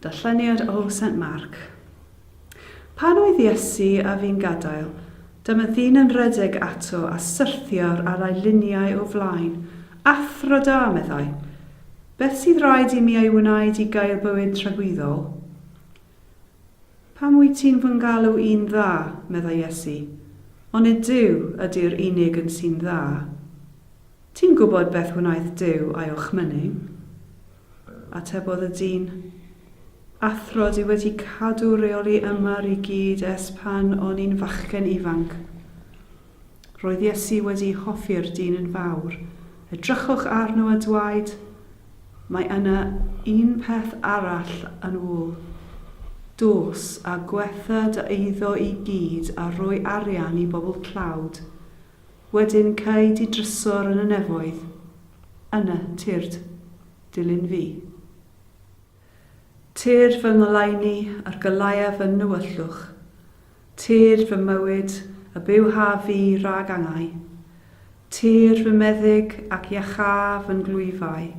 Darlleniad o Saint Mark. Pan oedd Iesu a fu'n gadael, dyma ddyn yn rhedeg ato a syrthio'r ar ei liniau o flaen. Athro da, meddai. Beth sydd raid i mi ei wneud i gael bywyd tragwyddol? Pam wyt ti'n fy ngalw i'n dda? meddai Iesu. Onid Duw ydy'r unig un sy'n dda? Ti'n gwybod beth wnaeth Duw a'i orchmyning? Atebodd y dyn, Athro, dwi wedi cadw rheoli ymar i gyd ers pan o'n i'n fachgen ifanc. Roedd Iesu wedi hoffi'r dyn yn fawr. Edrychwch arno a dwaed, Mae yna un peth arall yn ôl. Dos a gwetha dy eiddo i gyd a rhoi arian i bobl tlawd. Wedyn cei di drysor yn y nefoedd. Yna, tyrd. Dilyn fi. Tyrr fy ngoleuni ar gyllauaf fy nywyllwch, tyrr fy mywyd a byw haf fi rhag angau. Tyrr fy meddyg ac iacháu fy nglwyfau.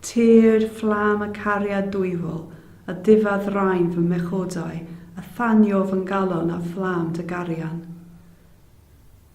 Tyrr fflam y cariad dwyfol a diffa ddraen fy mhechodau a thanio fy ngalon â fflam dy garian.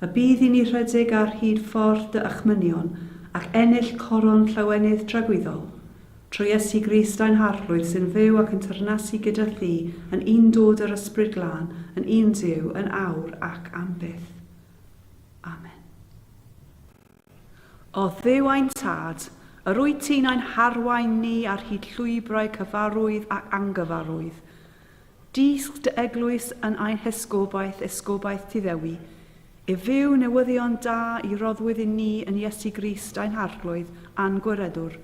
A bydd i ni rhedeg ar hyd ffordd dy achmynion ac ennill coron llawenydd tragwyddol? Trwy Iesu Grist ein Harglwydd sy'n fyw ac yn teyrnasu gyda thi yn un dod â'r Ysbryd Glân yn un Duw yn awr ac am byth. Amen. O Dduw ein Tad, yr wyt ti'n ein harwain ni ar hyd llwybrau cyfarwydd ac angyfarwydd. Dysg dy eglwys yn ein hesgobaeth, esgobaeth ti ddewi, i fyw newyddion da i roddwyd i ni yn Iesu Grist ein Harglwydd a'n Gwiredwr.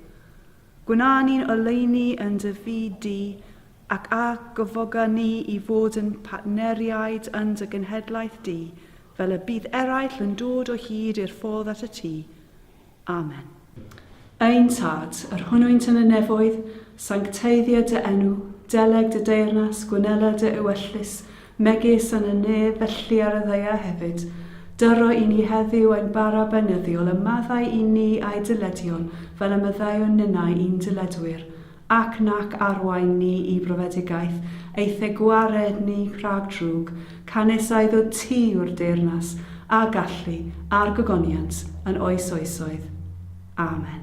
Gwna ni'n oleuni yn dy fyd di, ac a gyfoga ni i fod yn partneriaid yn dy genhedlaeth di, Fel y bydd eraill yn dod o hyd i'r ffordd at y tŷ. Amen. Ein Tad, yr hwnnwynt yn y nefoedd, sancteiddia dy enw, deleg dy deyrnas, gwnela dy ewyllys, megis yn y nef, felly ar y ddaear hefyd. Dyro i ni heddiw ein bara beunyddiol, a maddau i ni a'i dyledion, fel y maddeuwn ninnau i'n dyledwyr. ac nac arwain ni i brofedigaeth, eithe gwared ni rhag drwg, canys a iddo ti yw'r deyrnas, a gallu, a'r gogoniant, yn oes oesoedd. Amen.